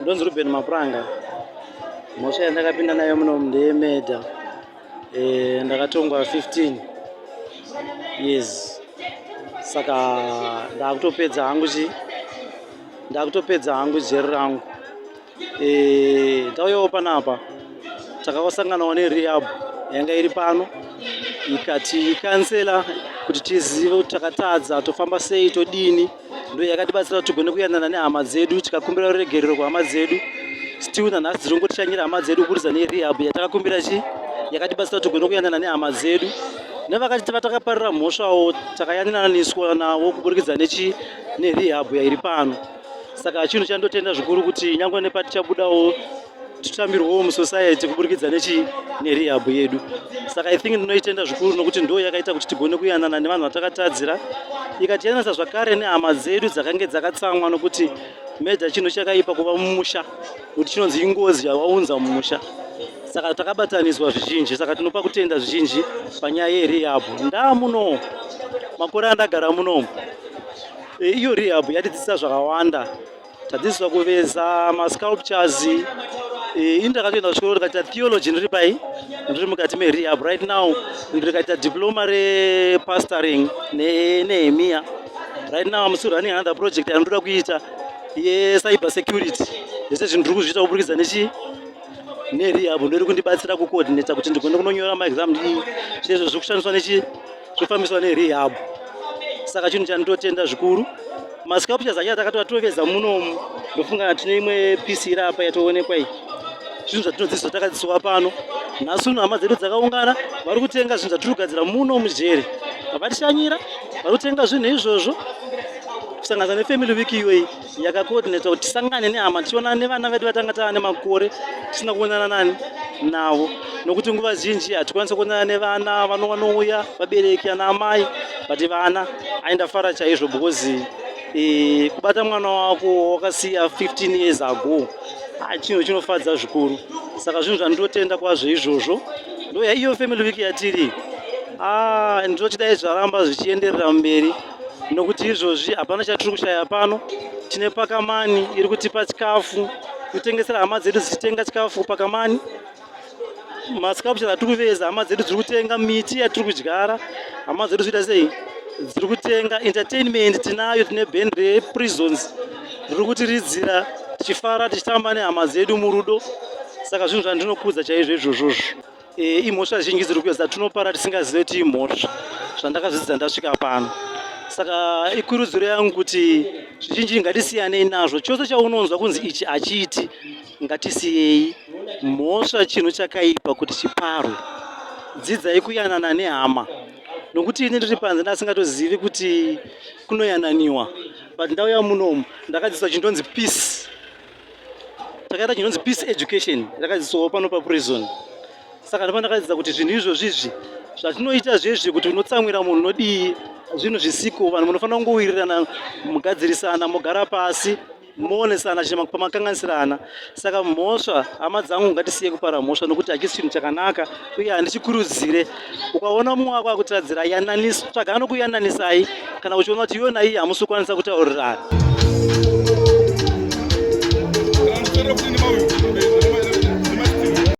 Ndonzi Ruben Mapuranga. Mhosva yandakapinda nayo muno ndeye murder. Eh, ndakatongwa 15 years. Saka ndakutopedza hangu chi ndakutopedza hangu jeri rangu. Eh, ndauyawo panapa. Takakosanganawo nerehab yanga iri pano ikati kansela kuti tizive kuti takatadza tofamba sei todini ndo yakatibatsira kuti tigone kuyanana nehama dzedu tikakumbira ruregerero kuhama dzedu still nanhasi dziri kungotishanyira hama dzedu kuburisa nerehab yatakakumbira chi yakatibatsira kuti tigone kuyanana nehama dzedu nevakati vatakaparira mhosvawo takayanananiswa navo kuburikidza nechi nerehab yairi pano saka chinhu chandotenda zvikuru kuti nyangwe nepatichabudawo titambirwewo musociety kuburikidza nechi nerehab yedu saka i think ndinoitenda zvikuru nokuti ndo yakaita kuti tigone kuyanana nevanhu vatakatadzira ikatiyananisa zvakare nehama dzedu dzakange dzakatsamwa nokuti meja chinhu chakaipa kuva mumusha kuti chinonzi ingozi yawaunza mumusha saka takabatanidzwa zvizhinji saka tinopa kutenda zvizhinji panyaya yerehab ndaa muno makore andagara munomu e, iyo rehab yatidzisa zvakawanda Tadzidziswa kuveza ma sculptures. Eh, ini takatoenda kuchikoro tikaita theology ndiri pai ndiri mukati merehab right now ndikaita diploma repastoring nenehemiya right now am still running another project andoda kuita yecyber security zvese zvinhu ndiri kuzviita kuburikidza nechi nerehab ndori kundibatsira kucoordinata kuti ndigone kunonyora maexam zvezvo zviri kushandiswa nechi kufambiswa nerehab saka chinhu chandinotenda zvikuru masculptures acho atakati vatoveza munomu ndofunga tine imwe pisi iri apa yatoonekwa iyi zvinhu zvatinodzidziswa takadzidziswa pano nhasi uno hama dzedu dzakaungana vari kutenga zvinhu zvatiri kugadzira muno mujeri vatishanyira vari kutenga zvinhu izvozvo kusanganisa nefamily week iyoyi yakakoodinetwa kuti tisangane nehama tichionana nevana vedu vatanga tava nemakore tisina kuonana nani navo nokuti nguva zhinji hatikwanisa kuonana nevana vano vanouya vabereki ana amai but vana aindafara chaizvo because e, kubata mwana wako wakasiya 15 years ago ah, chinhu chinofadza zvikuru saka zvinhu zvandinotenda kwazvo izvozvo ndoya iyo family week yatiri ah, ndinochidai zvaramba zvichienderera mberi nokuti izvozvi hapana chatiri kushaya pano tine pakamani iri kutipa chikafu kutengesera hama dzedu dzichitenga chikafu kupakamani masculpture atiri kuveza hama dzedu dziri kutenga miti yatiri kudyara hama dzedu zviita sei dziri kutenga entertainment tinayo tine band reprisons riri kutiridzira tichifara tichitamba nehama dzedu murudo saka zvinhu zvandinokudza chaizvo izvozvozvo Eh, imhosva zhinji dziri kuuya dzatinopara tisingazive kuti imhosva zvandakazvidzidza ndasvika pano saka ikurudziro yangu kuti zvizhinji ngatisiyanei nazvo chose chaunonzwa kunzi ichi hachiiti ngatisiyei mhosva chinhu chakaipa kuti chiparwe dzidzai kuyanana nehama nokuti ini ndiri panze ndasingatozivi kuti kunoyananiwa but ndauya munomu ndakadzidziswa chindonzi peace takaita chinonzi peace education yakadzidziswawo pano paprison saka ndipo ndakadzidza kuti zvinhu izvozvizvi zvatinoita zvezvi kuti unotsamwira munhu unodii zvinhu zvisiko vanhu munofanira kungowirirana mugadzirisana mogara pasi moonesana chine pamakanganisirana saka mhosva hama dzangu ngatisiye kupara mhosva nokuti hachisi chinhu chakanaka uye handichikurudzire ukaona mumwe wako akutadzira yananisa tsvaga anokuyananisai kana uchiona kuti iwe naiye hamusi kukwanisa kutaurirana